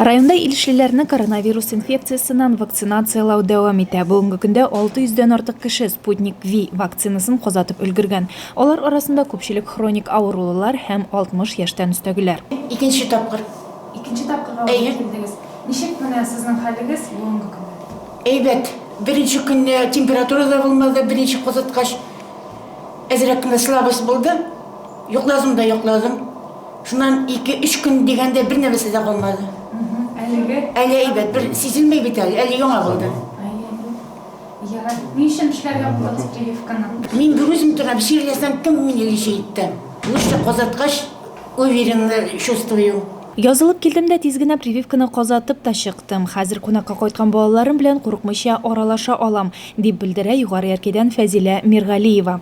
Районда илешлеләрне коронавирус инфекциясеннән вакцинацияләү дәвам итә. Бүгенге көндә 600 дән артык кеше Sputnik V вакцинасын казатып өлгергән. Алар арасында күпчелек хроник авырулылар һәм 60 яшьтән өстәгеләр. Икенче тапкыр. Икенче тапкырга үзе килдегез. Ничек менә сезнең хәлегез бүгенге көндә? Әйбәт. Беренче көнне температура да булмады, беренче казаткач әзрәк кенә слабость булды. Йокладым да йокладым. Шуннан ике-өч көн дигәндә бер нәрсә дә калмады. Әлеге? Әле әйбәт, бер сизелмәй бит әле, әле яңа булды. Ярар, ни өчен эшләргә булдыгыз прививканы? Мин бүген үзем торам, сөйләсәм, кем мине лечи итте? Лучше казаткач, уверенно чувствую. Язылып килдем дә тиз генә прививканы казатып та чыктым. Хәзер кунакка кайткан балаларым белән курыкмыйча аралаша алам, дип белдерә Югары Яркәйдән Фәзилә Миргалиева.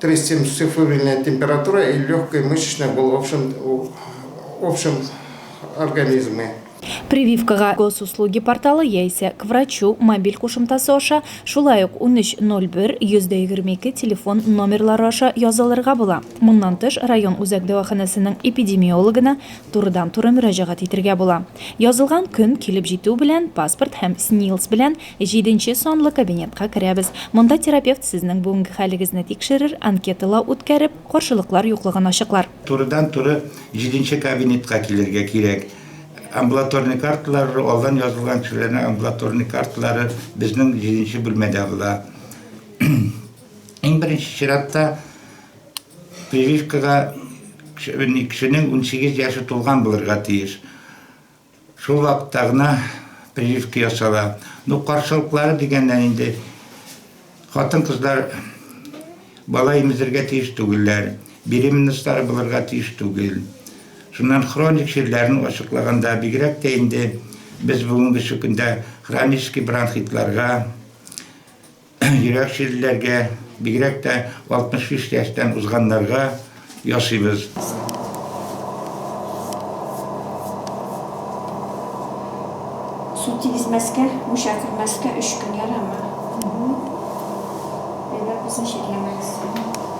370 цифровильная температура и легкая мышечная боль в общем организме. Прививкага Госуслуги порталы яисә К врачу мобиль кушымтасы аша, шулай ук 1301 122 телефон номерлары аша язылырга була. Моннан тыш, район үзәк дәваханәсенең эпидемиологына турыдан-туры мөрәҗәгать итергә була. Язылган көн килеп җитү белән паспорт һәм СНИЛС белән Җиденче санлы кабинетка керәбез. Монда терапевт сезнең бүгенге хәлегезне тикшерер, анкеталау үткәреп, каршылыклар юклыгын ачыклар. Турыдан-туры җиденче кабинетка килергә кирәк. Амбулаторный карталары, алдан язылган кешеләрнең амбулаторный карталары безнең җиденче бүлмәдә була. Иң беренче чиратта прививкага кешенең унсигез яше тулган булырга тиеш. Шул вакытта гына прививка ясала. Ну, каршылыклары дигәннән инде хатын-кызлар бала имезергә тиеш түгелләр, беременностьлары булырга тиеш түгел. Шуннан хроник чирләрен ачыклаганда, бигрәк тә инде без бүгенге көндә хронический бронхитларга, Йөрәк чирлеләргә, бигрәк тә 65 яшьтән узганнарга ясыйбыз. Су тигезмәскә, мунча кермәскә өч көн ярамы? Әйбәт булсын, чирләмәгез.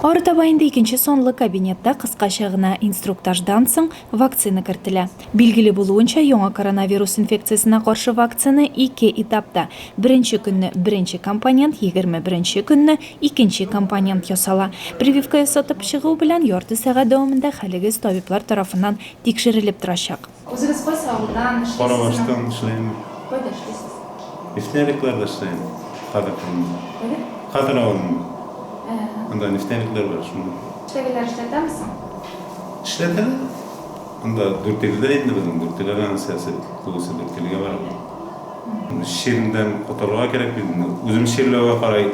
Арытаба инде икенче санлы кабинетта кыскача гына инструктаждан соң вакцина кертелә. Билгеле булуынча, яңа коронавирус инфекциясенә каршы вакцина ике этапта, беренче көнне беренче компонент, егерме беренче көнне икенче компонент ясала. Прививка ясатып чыгу белән ярты сәгать дәвамында хәлегез табиблар тарафыннан тикшерелеп торачак. Үзегез кайсы авылдан эшлисез? Карабаштан эшлим. Кайда эшлисез? Нефтяникларда эшлим. Кадык авылында. Кадыр авылында. Анда нефтяниклар бар, шунда. Чәгеләр эшләтәмесең? Эшләтәм. Анда Дүртөйледә инде безнең, Дүртөйле ганәсәсе тулысы Дүртөйлегә бара бит. Чирдән котылырга кирәк бит инде. Үзем чирләүгә карай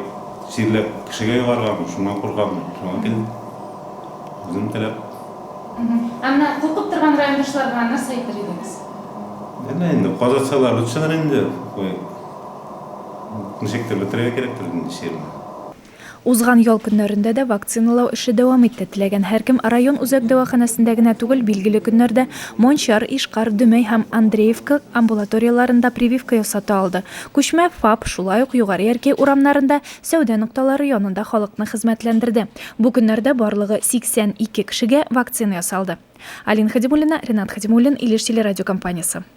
чирләп кешегә йогарганмын, шуннан куркамын. Шуңа килдем. Үзем теләп. Ә менә куркып торган райондашлар белән нәрсә әйтер идегез? Әнә инде казатсалар очыныр инде. Ничектер бетерергә кирәктер инде чирне. Узган ял көннәрендә дә вакциналау эше дәвам итте. Теләгән һәркем район үзәк дәваханәсендә генә түгел, билгеле көннәрдә Мончар, Ишкар, Дөмәй һәм Андреевка амбулаторияләрендә прививка ясата алды. Күчмә ФАП шулай ук Югары Яркәй урамнарында, сәүдә нокталары янында халыкны хезмәтләндерде. Бу көннәрдә барлыгы 82 кешегә вакцина ясалды. Алина Хәдимуллина, Ренат Хәдимуллин, Илеш телерадиокомпаниясе.